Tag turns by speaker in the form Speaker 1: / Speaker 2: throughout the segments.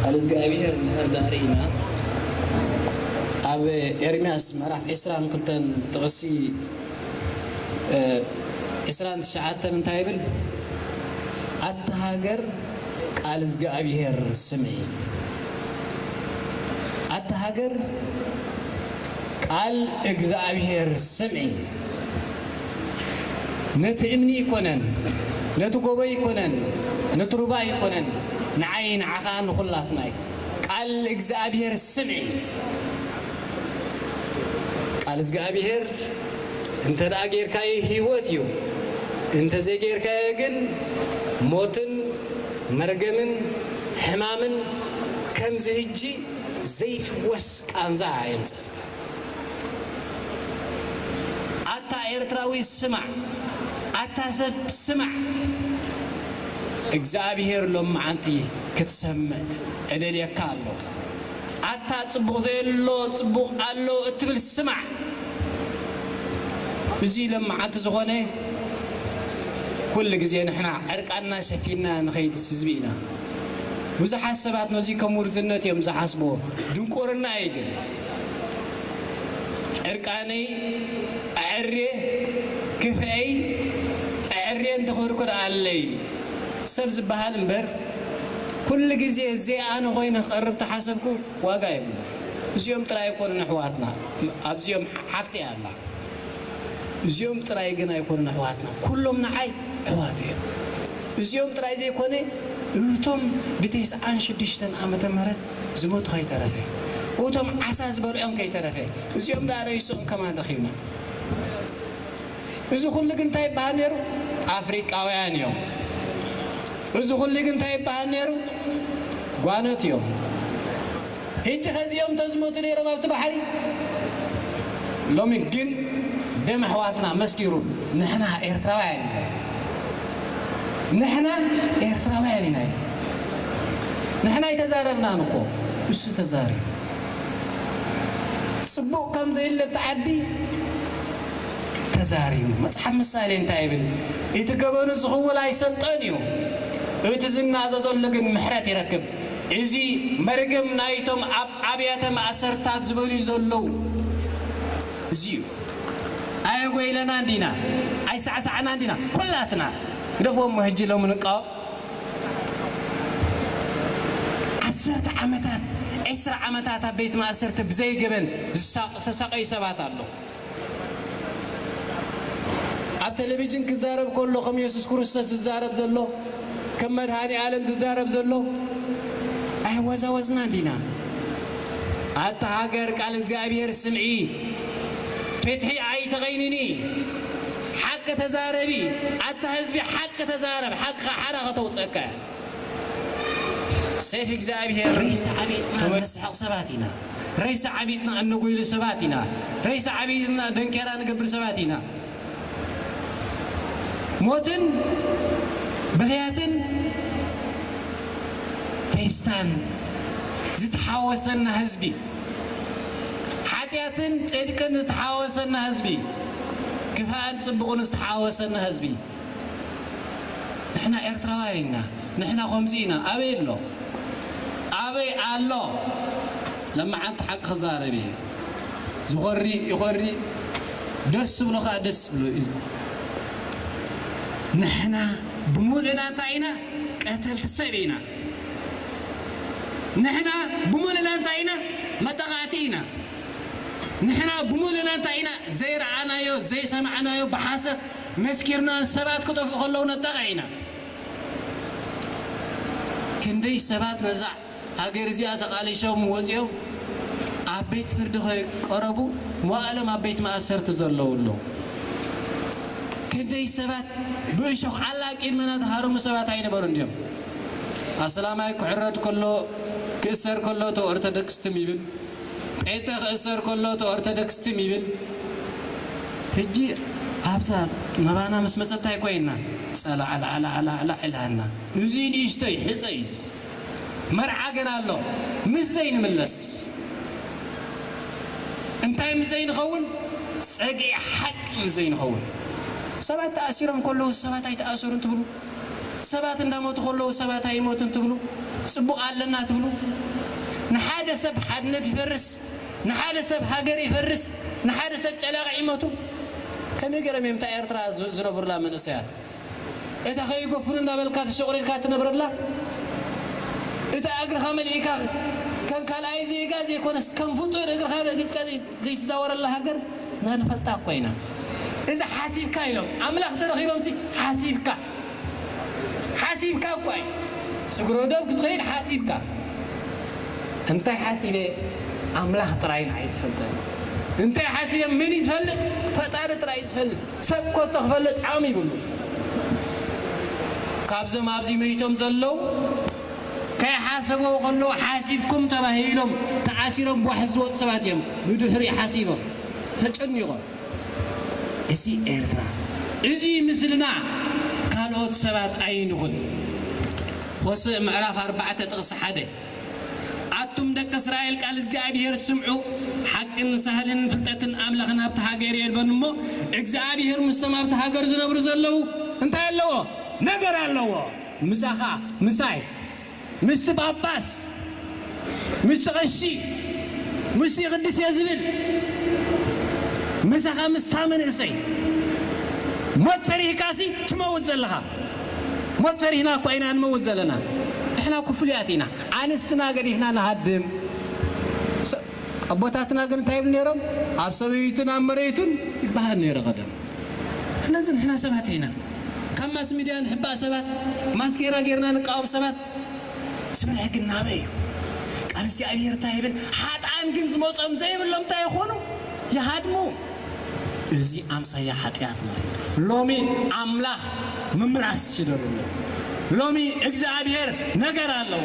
Speaker 1: ቃል እዝግኣብሄር እንድሕር ደኣ ርኢና ኣብ ኤርምያስ ምዕራፍ ዕስራን ክልተን ጥቕሲ ዕስራን ትሽዓተን እንታይ ይብል ኣታ ሃገር ቃል እዝግኣብሄር ስምዒ ኣታ ሃገር ቃል እግዝኣብሄር ስምዒ። ነቲ እምኒ ኣይኮነን ነቲ ጎቦ ኣይኮነን ነቲ ሩባ ኣይኮነን ንዓይ ንዓኻ ንኹላትና እዩ ቃል እግዝኣብሄር ስምዒ ቃል እዝግኣብሄር እንተ ጌርካዮ ህይወት እዩ እንተ ዘይጌርካዮ ግን ሞትን መርገምን ሕማምን ከምዚ ህጂ ዘይፍወስ ቃንዛ የምጽእ። ኣታ ኤርትራዊ ስማዕ ኣታ ሰብ ስማዕ እግዝኣብሄር ሎምዓንቲ ክትሰምዕ እደልየካ ኣሎ ኣታ ጽቡቅ ዘየሎ ጽቡቅ ኣሎ እትብል ስማዕ እዙይ ሎምዓንቲ ዝኮነ ኩልግዜ ንሕና ዕርቃንና ሸፊንና ንከይድ ስዝቢ ኢና። ብዙሓት ሰባት ነዙይ ከም ውርዝነት እዮም ዝሓስብዎ። ድንቁርና እዩ ግን። ዕርቃነይ ኣዐርየ ክፍኤይ ኣዐርየ እንትኹርኩር ኣለይ ሰብ ዝበሃል እምበር ኩሉ ግዜ ዘይ ኣነ ኮይነ ክቀርብ ተሓሰብኩ ዋጋ የብሉን። እዚኦም ጥራይ ኣይኮኑን ኣሕዋትና ኣብዚኦም ሓፍተይ ኣላ። እዚኦም ጥራይ ግን ኣይኮኑን ኣሕዋትና ኩሎም ንዓይ ኣሕዋት እዮም እዚኦም ጥራይ ዘይኮነ እቶም ብቴስዓን ሽዱሽተን ዓመተ ምህረት ዝመቱ ከይተረፈ እቶም ዓሳ ዝበልዖም ከይተረፈ እዚኦም ደኣ ረይስኦም ከማን ረኺብና እዚ ኩሉ ግን እንታይ ይበሃል ነይሩ ኣፍሪቃውያን እዮም እዚ ኩሉ ግን እንታይ ይበሃል ነይሩ ጓኖት እዮም ሕጂ ከ እዚኦም ተዝሞቱ ነይሮም ኣብቲ ባሕሪ ሎሚ ግን ደም ኣሕዋትና መስኪሩ ንሕና ኤርትራውያን ኢና ኢሉ ንሕና ኤርትራውያን ኢና ኢሉ ንሕና ኣይተዛረብናን እኮ እሱ ተዛሪቡ ጽቡቅ ከም ዘየለ ኣብቲ ዓዲ ተዛሪቡ መጽሓፍ ምሳሌ እንታይ ይብል እቲ ገበኑ ዝኽውል ኣይሰልጦን እዩ እቲ ዝናዘ ዘሎ ግን ምሕረት ይረክብ። እዚ መርገም ናይቶም ኣብ ኣብያተ ማእሰርትታት ዝበልዩ ዘለዉ እዚ እዩ። ኣየጎይለናን ዲና? ኣይሳዕሳዕናን ዲና? ኩላትና ግደፍዎሞ ሕጂ ሎሚ ንቃወም። ዓሰርተ ዓመታት፣ ዕስራ ዓመታት ኣብ ቤት ማእሰርቲ ብዘይ ገበን ዝተሳቐዩ ሰባት ኣለዉ። ኣብ ተለቪጅን ክዛረብ ከሎ ከም የሱስ ክርስቶስ ዝዛረብ ዘሎ ከም መድሃኒ ኣለም ዝዛረብ ዘሎ ኣይወዛወዝናን ዲና ኣታ ሃገር ቃል እግዚኣብሄር ስምዒ ፍትሒ ኣይተቐይንኒ ሓቂ ተዛረቢ ኣታ ህዝቢ ሓቂ ተዛረብ ሓቅኻ ሓራ ከተውጽኣካ እያ። ሴፍ እግዚኣብሄር ሬሳ ዓቢጥና እነስሕቕ ሰባት ኢና ሬሳ ዓቢጥና እነጎይሉ ሰባት ኢና ሬሳ ዓቢጥና ደንኬራ ንገብር ሰባት ኢና ሞትን ብኽያትን ፌስታን ዝተሓወሰና ህዝቢ ሓጢኣትን ጽድቅን ዝተሓወሰና ህዝቢ ክፋእን ጽቡቕን ዝተሓወሰና ህዝቢ ንሕና ኤርትራውያን ኢና ንሕና ኮምዚ ኢና ኣበይ ኣሎ ኣበይ ኣሎ ለማዓንቲ ሓቂ ክዛረብ እየ ዝኾሪ ይኾሪ ደስ ዝብሎ ካኣ ደስ ዝብሎ እዩ ንሕና ብሙሉእና እንታይ ኢና ቀተልቲ ሰብ ኢና ንሕና ብሙሉእና እንታይ ኢና መጠቓዕቲ ኢና ንሕና ብሙሉእና እንታይ ኢና ዘይረኣናዮ ዘይሰማዕናዮ ብሓሰት መስኪርና ሰባት ክጠፍኡ ከለዉ ነጣቕዕ ኢና። ክንደይ ሰባት ነዛ ሃገር እዚኣ ተቓሊሶም ወጺኦም ኣብ ቤት ፍርዲ ከይቀረቡ መዋእሎም ኣብ ቤት ማእሰርቲ ዘለዉ ኣለዉ። ክንደይ ሰባት ብእሾኽ ዓላ ቂድመና ተሃረሙ ሰባት ኣይነበሩን ድዮም? ኣስላማይ ክሕረድ ከሎ ክእሰር ከሎ ተኦርተደክስ ትም ይብል። ጴንጠ ክእሰር ከሎ እቲ ኦርተደክስ ትም ይብል። ህጂ ኣብዛ መባና ምስ መጸት ታይ ኮይና ጸላዕላዕላዕላዕ ኢላና። እዙይ ንእሽቶይ ሕጸ እዩ እዚ መርዓ ገና ኣሎ ምስ ዘይንምለስ እንታይ ምስ ዘይንኸውን ጸግዒ ሓቂ ምስ ዘይንኸውን ሰባት ተኣሲሮም ከለዉ ሰባት ኣይተኣሰሩን ትብሉ። ሰባት እንዳሞቱ ከለዉ ሰባት ኣይሞቱን ትብሉ ጽቡቅ ኣለና ትብሉ ንሓደ ሰብ ሓድነት ይፈርስ ንሓደ ሰብ ሃገር ይፈርስ ንሓደ ሰብ ጨላቅዕ ይመቱ ከመይ ገሮም እዮም እታ ኤርትራ ዝነብሩላ መንእሰያት እታ ከይጎፍሩ እንዳበልካ ተሸቁሪርካ ትነብረላ እታ እግርካ መሊእካ ከም ካልኣይ ዜጋ ዘይኮነስ ከም ፍጡር እግርካ ረጊጽካ ዘይትዛወረላ ሃገር እና ንፈልጣ እኮ ኢና እዚ ሓሲብካ ኢሎም ኣምላክ ተረኪቦምሲ ሓሲብካ ሓሲብካ እኳ እዩ ስግረዶብ ክትከይድ ሓሲብካ እንታይ ሓሲበ ኣምላክ ጥራይ ንዓይ ዝፈልጠኒ እንታይ ሓሲበ መን እዩ ዝፈልጥ ፈጣሪ ጥራይ እዩ ዝፈልጥ ሰብ ኮቶ ክፈልጥ ዓቅሚ ይብሉን ካብዞም ኣብዚ መይቶም ዘለው ከይሓሰብዎ ከለዉ ሓሲብኩም ተባሂሎም ተኣሲሮም ጓሕ ዝወጹ ሰባት እዮም ብድሕሪኡ ሓሲቦም ተጨኒቆም እዚ ኤርትራ እዚ ምስልና ካልኦት ሰባት ኣይንኹን ሆስእ ምዕራፍ ኣርባዕተ ጥቅሲ ሓደ ኣቱም ደቂ እስራኤል ቃል እዝግኣብሄር ስምዑ ሓቅን ሳህልን ፍልጠትን ኣምላኽን ኣብቲ ሃገር የልቦን እሞ እግዝኣብሄር ምስቶም ኣብቲ ሃገር ዝነብሩ ዘለዉ እንታይ ኣለዎ ነገር ኣለዎ። ምሳኻ ምሳይ ምስቲ ጳጳስ ምስቲ ቐሺ ምስቲ ይቕድስ እየ ዝብል ምሳኻ ምስታ መንእሰይ ሞት ፈሪህካሲ ትመውት ዘለኻ ሞት ፈሪህና እኳ ኢና ንመውት ዘለና ንሕና እኮ ፍሉያት ኢና ኣንስትና ገዲፍና ንሃድም ኣቦታትና ግን እንታይ ይብሉ ነይሮም ኣብ ሰበይቱን ኣብ መሬቱን ይበሃል ነይረ ቀደም ስለዚ ንሕና ሰባት ኢና ካብ ማስሚድያ ንሕባእ ሰባት ማስኬራ ጌርና ንቃወም ሰባት ዝብል ሕጊ እናበይ እዩ ቃል እግዚኣብሄር እንታይ ይብል ሓጥኣን ግን ዝመጾም ዘይብሎም እንታይ ይኾኑ ይሃድሙ እዚ ኣምሳያ ሓጢኣትና እዩ ሎሚ ኣምላኽ ምምላስ ሽደሉ ኣሎ ሎሚ እግዝኣብሄር ነገር ኣለዎ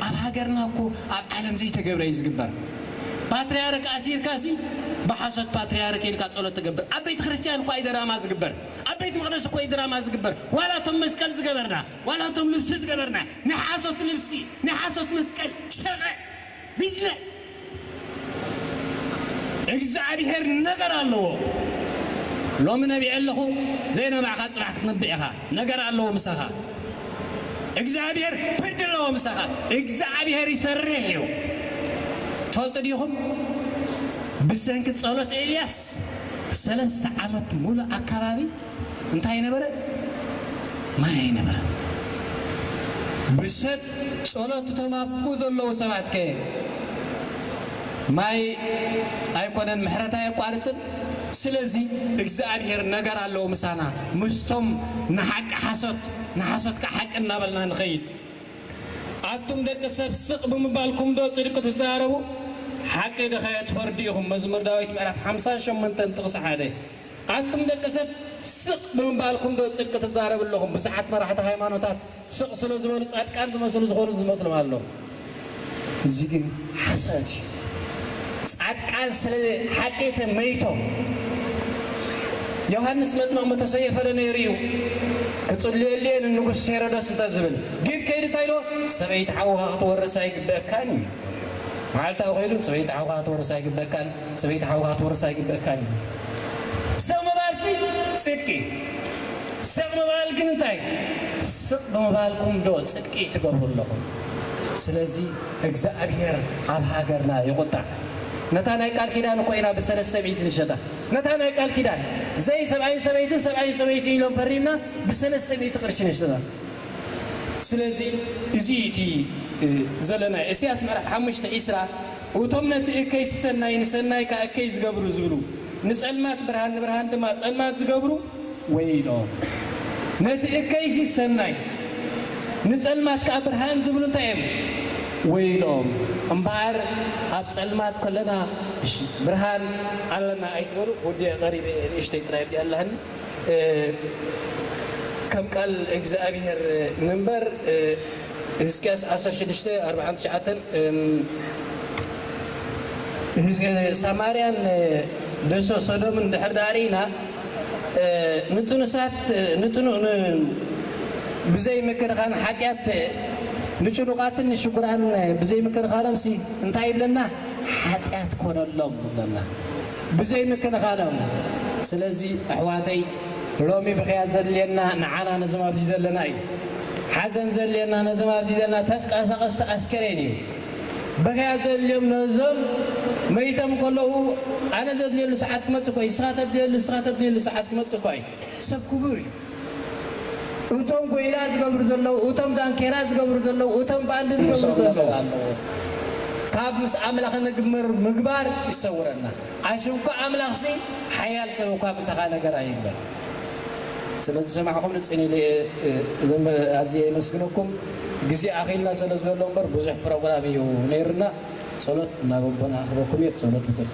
Speaker 1: ኣብ ሃገርና እኮ ኣብ ዓለም ዘይተገብረ እዩ ዝግበር ፓትርያርክ ኣሲርካ ሲ ብሓሶት ፓትርያርክ ኢልካ ጸሎት ትገብር ኣብ ቤተ ክርስትያን እኳ እዩ ደራማ ዝግበር ኣብ ቤት መቅደስ እኮ እዩ ድራማ ዝግበር ዋላ እቶም መስቀል ዝገበርና ዋላ እቶም ልብሲ ዝገበርና ናይ ሓሶት ልብሲ ናይ ሓሶት መስቀል ሸቀ ቢዝነስ እግዝኣብሄር ነገር ኣለዎ ሎሚ ነቢዐ ኣለኹ ዘይነባዕኻ ፅባሕ ክትነብዕ ኢኻ ነገር ኣለዎ ምሳኻ እግዝኣብሄር ፍርዲ ኣለዎ ምሳኻ እግዝኣብሄር ይሰርሕ እዩ ትፈልጡ ዲኹም ብሰንኪ ፀሎት ኤልያስ ሰለስተ ዓመት ሙሉእ ኣካባቢ እንታይ ኣይነበረ ማይ ኣይነበረን ብሰት ጸሎት እቶም ኣብኡ ዘለዉ ሰባት ከ ማይ ኣይኮነን ምሕረት ኣየቋርጽን ስለዚ እግዝኣብሄር ነገር ኣለዎ ምሳና ምስቶም ንሓቂ ሓሶት ንሓሶት ከኣ ሓቂ እናበልና ንኸይድ ኣቱም ደቂ ሰብ ስቅ ብምባልኩም ዶ ጽድቂ ትዛረቡ ሓቂ ድኸ ትፈርዱ ኢኹም መዝሙር ዳዊት ምዕራፍ ሓምሳን ሸሞንተን ጥቅሲ ሓደ። ኣቱም ደቂ ሰብ ስቅ ብምባልኩም ዶ ጽድቂ ትዛረብ ኣለኹም ብዙሓት መራሕቲ ሃይማኖታት ስቅ ስለ ዝበሉ ጻድቃን ዝመስሉ ዝኾኑ ዝመስሎም ኣሎ እዚ ግን ሓሶት እዩ ጻድቃን ስለ ሓቂ ተመይቶም ዮሃንስ መጥምቅ ምተሰየፈ ዶ ነይሩ እዩ ክጽልየሉ እየ ንንጉስ ሄሮዶስ እንተ ዝብል ግን ከይዱ እንታይ ኢልዎ ሰበይቲ ሓውኻ ክትወርስ ኣይግበእካን እዩ በልዎ መዓልታዊ ከይዱ ሰበይቲ ሓውኻ ክትወርስ ኣይግበእካን ሰበይቲ ሓውካ ክትወርስ ኣይግበእካን እዩ ስቅ ምባልሲ ጽድቂ ስቅ ምባል ግን እንታይ ስቅ ብምባልኩም ዶ ጽድቂ ትገብሩ ኣለኹም ስለዚ እግዝኣብሄር ኣብ ሃገርና ይቁጣዕ ነታ ናይ ቃል ኪዳን እኮ ኢና ብሰለስተ ሚእቲ ንሸጣ ነታ ናይ ቃል ኪዳን ዘይ ሰብኣይን ሰበይትን ሰብኣይን ሰበይትን ኢሎም ፈሪምና ብሰለስተ ሚእቲ ቅርሺ ነሽጣ ስለዚ እዚ እዩ እቲ ዘለና እሰያስ ምዕራፍ ሓሙሽተ ዕስራ። እቶም ነቲ እከይ ስሰናይ ንሰናይ ከኣ እከይ ዝገብሩ ዝብሉ ንጸልማት ብርሃን ንብርሃን ድማ ጸልማት ዝገብሩ ወይሎም። ነቲ እከይሲ ሰናይ ንጸልማት ከኣ ብርሃን ዝብሉ እንታይ እዮም ወይሎም። እምበኣር ኣብ ጸልማት ከለና እሺ ብርሃን ኣለና ኣይትበሉ ወዲኤ ቀሪበ እየ ንእሽተይ ጥራይ ኣብዚኣ ኣላትኒ ከም ቃል እግዝኣብሄር ንንበር። ህዝቅያስ ዓሰርተ ሽዱሽተ፣ ኣርብዓን ትሽዓተን ህዝቢ ሳማርያን ደሶ ሶዶምን እንድሕር ደኣ ርኢና፣ ንጥኑሳት ንጥኑ ን ብዘይ ምክንኻን ሓጢኣት ንጭኑቓትን ንሽጉራን ብዘይ ምክንኻኖምሲ እንታይ ይብለና ሓጢኣት ኮነሎም ይብለና ብዘይ ምክንኻኖም ስለዚ ኣሕዋተይ ሎሚ ብኽያት ዘድልየና ንዓና ነዞም ኣብዚ ዘለና እዩ። ሓዘን ዘድልየና ነዞም ኣብዚ ዘለና ተንቀሳቐስቲ ኣስከሬን እዩ። ብኽያት ዘድልዮም ነዞም መይቶም ከለዉ ኣነ ዘድልየሉ ሰዓት ክመጽእ እኳ እዩ። ንስኻ ተድልየሉ ንስኻ ተድልየሉ ሰዓት ክመጽእ እኳ እዩ። ሰብ ክቡር እዩ። እቶም ጎይላ ዝገብሩ ዘለዉ፣ እቶም ዳንኬራ ዝገብሩ ዘለዉ፣ እቶም ባንዲ ዝገብሩ ዘለዉ። ምስኦም ነገር ኣለዎ። ካብ ምስ ኣምላኽ ንግብር ምግባር ይሰውረና። ኣሽ እኳ ኣምላኽሲ ሓያል ሰብ እኳ ምሳኻ ነገር ኣይግበር። ስለ ዝሰማዕኹምኒ ጽን ኢለ እየ ኣዝየ የመስግነኩም። ግዜ ኣኺልና ሰለ ዘሎ እምበር ብዙሕ ፕሮግራም እዩ ነይሩና። ጸሎት ናብ ኣቦና ኣኽበኩም እየ ብጸሎት ብትርት።